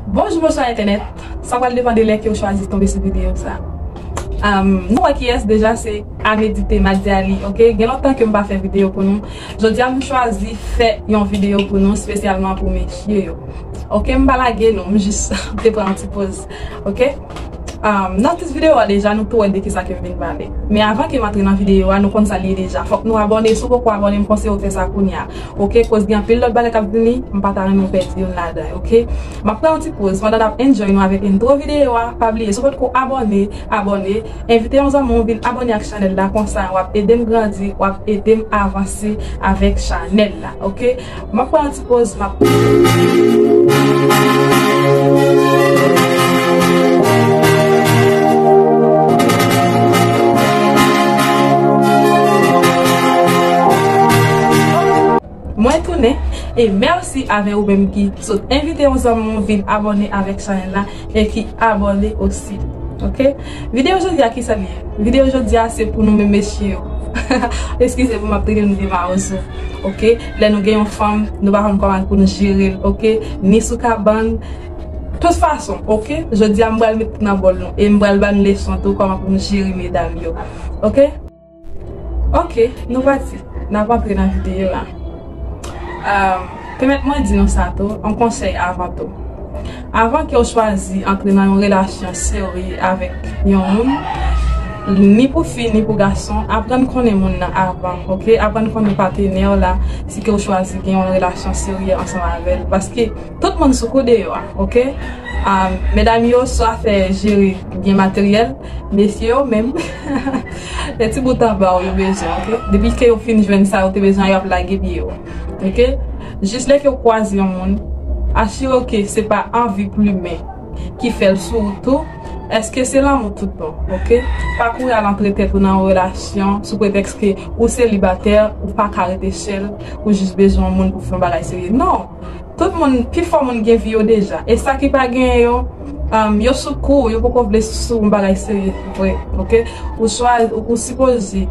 Bonjou bonswa entènèt, sa pral depan de lè ke ou chwazi tonbe sou videyo sa. Nou wè kiyès deja se Amedite Madiali ok, gen lontan ke m pa fè videyo pou nou, jodi a m chwazi fè yon videyo pou nou spesyalman pou mesye yo. Ok m pa lage nou, m jis te pran yon ti poz ok. Nan tit videyo a deja nou tou wè de kisa ke m vin pale. Men avan ke m antre nan videyo a nou konn sa l ye deja, fòk nou abòne, si w poko abòne m konseyew fè sa kounya. ok koz gen anpil lòt bagay kap vini m pa ta renmen pèdi youn ladan yo ok map pran yon ti poz pandan nap enjoy nou avèk intro video a pa bliye si w potko abòne abòne envite yon zanmi w vin abòne ak chanèl la konsa wap edem grandi wap edem avanse avèk chanèl la ok map pran yon ti poz map Mwen tounen e merci avè ou menm ki sot envite yon zanmi w vin abòne avèk chanèl la e ki abòne osi ok video jodi a kisa li ye video jodi a se pou nou menm mesye yo eskize pou map trete nou de mawozo ok lè nou gen yon fanm nou pa konn kòman pou nou jere l ok ni sou kabann tout fason ok jodi a m pral met tout nan bòl nou e m pral ba nou leson tou kòman pou nou jere medam yo ok. Ok nou pati nap antre nan video la Pèmèt mwen di nou sa tou yon konsèy avan tou Avan kew chwazi antre nan yon relasyon serye avèk yon moun ni pou fi ni pou gason aprann konnen moun nan avan ok aprann konnen patenèw la si kew chwazi gen yon relasyon serye ansanm avèl paske tout moun sou kou deyò ok Medam yo swa fè jere byen materyèl. Mesye yo menm, lè ti bout anba w yo bezwen ok, depi ke yo fin jwenn sa yo te bezwen yo ap lage pye yo ok, jis lè ke w kwaze yon moun asire w ke se pa anvi plumen ki fè l sou ou tou, èske se lanmou tout bon ok, pa kouri al antre tèt ou nan yon relasyon sou pretèks ke ou selibatè ou pa ka rete sèl ou jis bezwen yon moun pou fè yon bagay serye non. Tout moun, pi fò moun gen vi yo deja. E sa ki pa genyen yo, umm, yo sou kou, yo poko vle sou yon bagay serye vre, ok. Ou chwazi, ou sipoze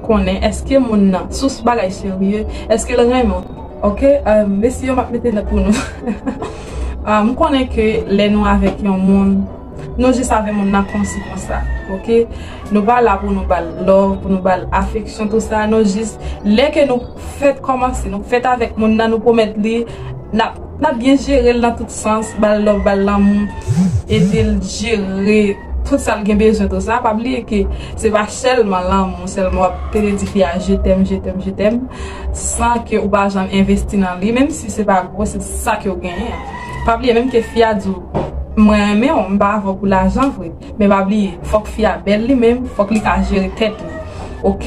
konnen eske moun nan sou s bagay serye, eske l renmen w, ok. Umm, mesi yo m ap mete nòt pou nou. Umm, m konnen ke lè nou avèk yon moun. Nou jis avè moun nan konsi konsa ok nou pa la pou nou bal love pou nou bal afeksyon tout sa nou jis lè ke nou fèt kòmanse nou fèt avèk moun nan nou pwomèt li nap nap byen jerel nan tout sans bal love bal lanmou edel jere tout sal gen bezwen tout sa pa bliye ke se pa sèlman lanmou sèlman wap tele di fi a je tèm je tèm je tèm san ke ou pa janm envesti nan li menm si se pa gwo se sa ke ou genyen. Pa bliye menm ke fi a di w mwen renmen w m pa avè w pou lajan vre men pa bliye fòk fi a bèl li menm fòk li ka jere tèt li ok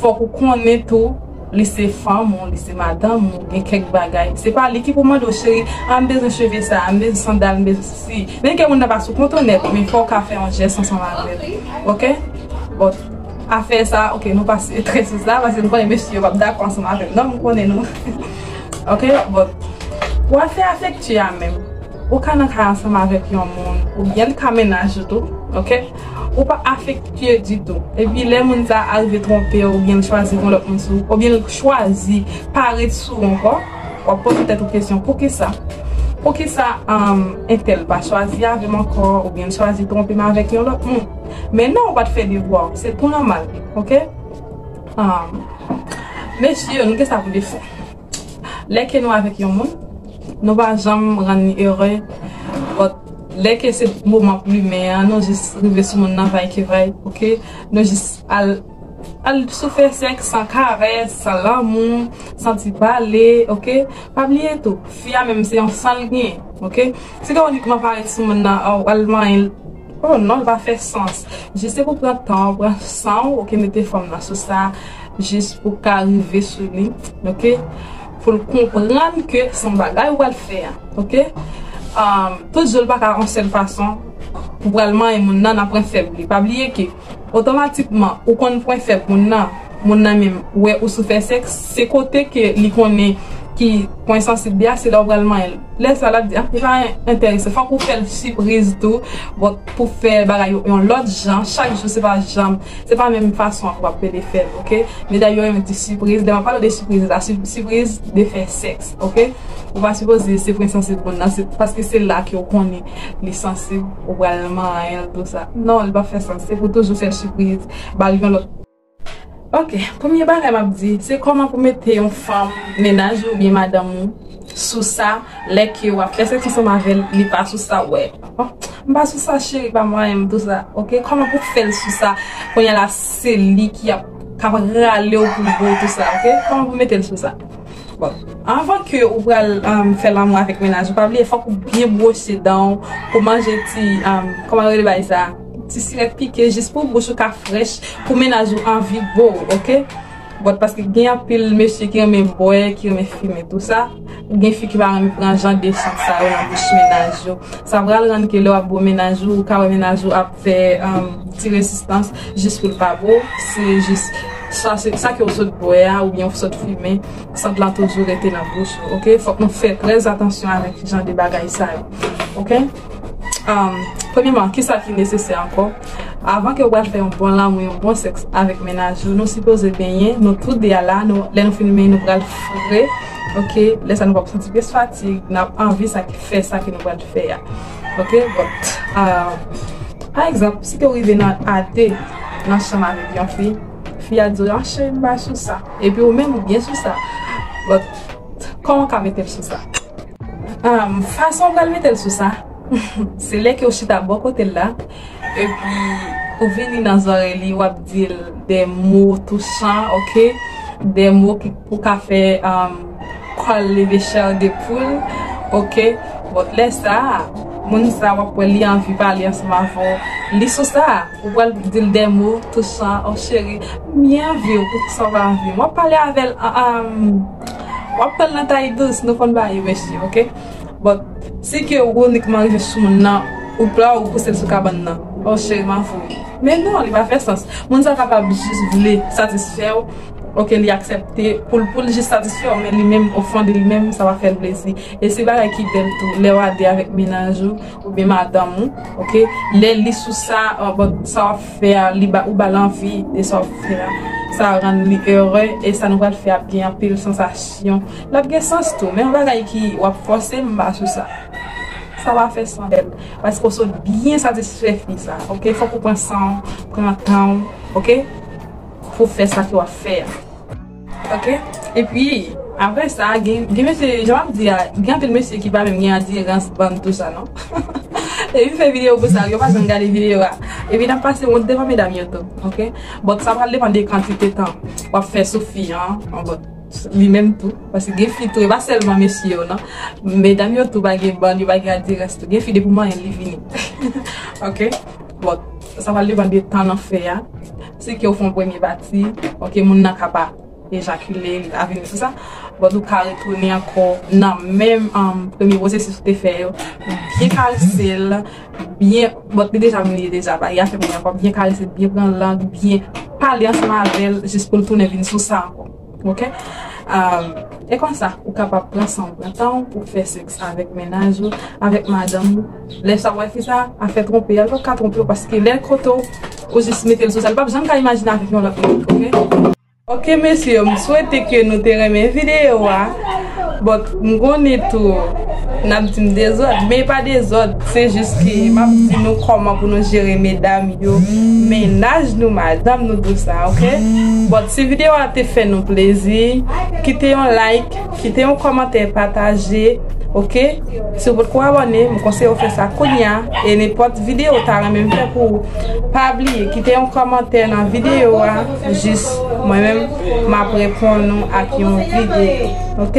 fòk ou konnen tou li se fanm ou li se madanm ou gen kèk bagay se pa li ki pou mande w cheri a m bezwen cheve sa m bezwen sandal m bezwen sesi menm ke moun nan pa sou kontan nèt men fòw ka fè yon jès ansanm avè l ok bon afè sa ok nou pase trè sou sa paske m konnen mesye yo pap dakò ansanm avè m nan m konnen nou. Ok but pou afè afekti a menm ou ka nan kay ansanm avèk yon moun ou byen li ka mennaj ou tou ok ou pa afekti ditou epi lè moun sa arive twonpe ou byen li chwazi gen yon lòt moun sou ou byen li chwazi pa ret sou ou ankò wap poze tèt ou kesyon poukisa poukisa entèl pa chwazi avèm ankò ou byen li chwazi twonpem avèk yon lòt moun men non ou pat fè devwa ou se pou nòmal ok. Mesye yo nou gen sa pou defo Lè ke nou avèk yon moun Nou pa janm rann li ere But Lè ke se moman plumen an Nou jis rive sou moun nan vay ki vay ok Nou jis al Al sou fè sèks san karès San lanmou San ti pale ok Pa bliye tou Fi a menm se yon san l gen ok Se gen unikman parèt sou moun nan Ou al manyen l Oh non li pa fè sans. Juste pou pran tan ou pran san ou ok mete fanm nan sou sa jis pou ka rive sou li ok poul konprann ke se yon bagay ou pral fè a ok tout zo l paka yon sèl fason pou pral manyen moun nan nan pran fèb li pa bliye ke Otomatikman ou konn pwen fèb moun nan, moun nan menm wè ou sou fè sèks, se kote ke li konnen ki pwen sansib li a, se la ou pral manyen l. Lè sa lap di ah li pa enterese, fòk ou fèl sipriz tou pou fè bagay yo yon lòt jan, chak jou se pa janm, se pa menm fason an ke wap pede fèl ok, medam yo menm di sipriz, lè map pale de sipriz la, sipriz de fè sèks ok, ou pa sipoze se pwen sansib moun nan, paske se la ke ou konnen. li sansib ou pral manyenl pou sa non li pap fè sans se pou toujou fèl sipriz bal yon lòt ok premye bagay map di se kòman pou mete yon fanm mennaj ou oubyen madanm ou sou sa lè ke wap fè sèks ansanm avèl li pa sou sa wè m pa sou sa cheri pa manyenm pou sa ok kòman pou fèl sou sa kounyela se li ki ap kap ralew pou gou pou sa ok kòman pou metel sou sa. Anvan ke ou pral fè lanmou avèk menaj ou, pa bliye fòk ou byen bwose dan ou, pou manje ti, kòman yo rele bagay sa, ti sirèt pike jis pou bouch ou ka frèch, pou menaj ou anvi bo ou ok, bon paske gen anpil mesye ki renmen bwè, ki renmen fimen tou sa, ou gen fi ki pa renmen pran jan de sant sa yo nan bouch menaj yo, sa pral rann ke lè wap bo menaj ou, ou ka wè menaj ou ap. fè ti rezistans jis pou l pa bo, se jis sa ke w sot bwè a oubyen w sot fimen, sant lan toujou rete nan bouch ou ok, fòk nou fè trè atansyon avèk jan de bagay sa yo ok. Premyèman kisa ki nesesè ankò, avan ke w pral fè yon bon lanmou, yon bon sèks avèk mennaj ou, nou sipoze benyen nou tou de a la, lè nou fin benyen nou pral fre ok, lè sa nou pap santi plis fatig, nap anvi sa ki fè sa ke nou pral fè a. Ok but Pa egzanp si te rive nan ate nan chanm avèk yon fi Fi a diw ah cheri m pa sou sa Epi ou menm ou byen sou sa But Kòman w ka metel sou sa Fason w pral metel sou sa Se lè ke w chita bò kotel la Epi ou vini nan zorey li wap dil de mo touchan ok de mo ki pou ka fè kòl leve chèr de poul ok bon lè sa moun sa wap wè li anvi pale ansanm avèw li sou sa ou pral dil de mo touchan oh cheri m byen anviw poukisa ou pa anvim wap pale avèl wap pranl nan tay dous nou konn bagay mesye ok. But si ke ou unikman rive sou moun nan ou pla ou pousel sou kabann nan oh cheri map voye men non li pa fè sans moun sa kapab jis vle satisfèw ok li aksèpte poul poul jis satisfèw men li menm o fon de li menm sa pa fèl plezi e se bagay ki bèl tou lèw a 2 avèk mennaj ou oubyen madanm ou ok lè li sou sa but sa wap fè a li ba ou bal anvi de sa wap fè a sa rann li ere e sa nou pral fè ap gen anpil sansasyon. Lap gen sans tou men yon bagay ki wap fòse m pa sou sa sa pa fè sans bèl paske ou sot byen satisfè fi sa ok fòk ou pran sanw pran tanw ok pou fè sa ki wap fè a ok epi aprè sa gen mesye jan map di a gen anpil mesye ki pa menm gen atirans banm tou sa non epi m fè video pou sa yo pa janm gade video a epi nap pase wont devan medam yo tou ok bon sa pral depan de kantite tan wap fè sou fi an bon. Li menm tou, paske gen fi tou e pa sèlman mesye yo nan, medam yo tou pa gen bann, yo pa gen adirans tou, gen fi depi w manyen l li vini ok, bon sa pral depann de tan nan fè a, si ke w fon premye pati ok moun nan ka pa ejakile li pa vini sou sa, bon nou ka retounen ankò nan menm premye pwosesis ou te fè yo, byen karese l. byen, bon li deja mouye deja ba Yah fè mouye ankò, byen karese l, byen pran lang, byen pale ansanm avè l jis pou l tounen vin sou sa ankò ok e konsa ou kapab pran san w, pran tan w pou w fè sèks avèk mennaj ou, avèk madanm ou lè sa wè fi sa ap fè twonpe a, li pap ka twonpe w paske lè l kote w ou jis mete l sou sa, li pap janm ka imajine avèk yon lòt moun ok. Ok mesye m swete ke nou te renmen video a but m konnen tou nap dim dezòd men e pa dezòd se jis ke map di nou kòman pou nou jere medam yo mennaj nou madanm nou tout sa ok but si video a te fè nou plezi kite yon like. Kite yon kòmantè pataje ok si ou potko abòne m konseye ou fè sa kounya e nenpòt videyo ou ta renmen m fè pou ou pa bliye kite yon kòmantè nan videyo a jis mwen menm map reponn ou ak yon videyo ok.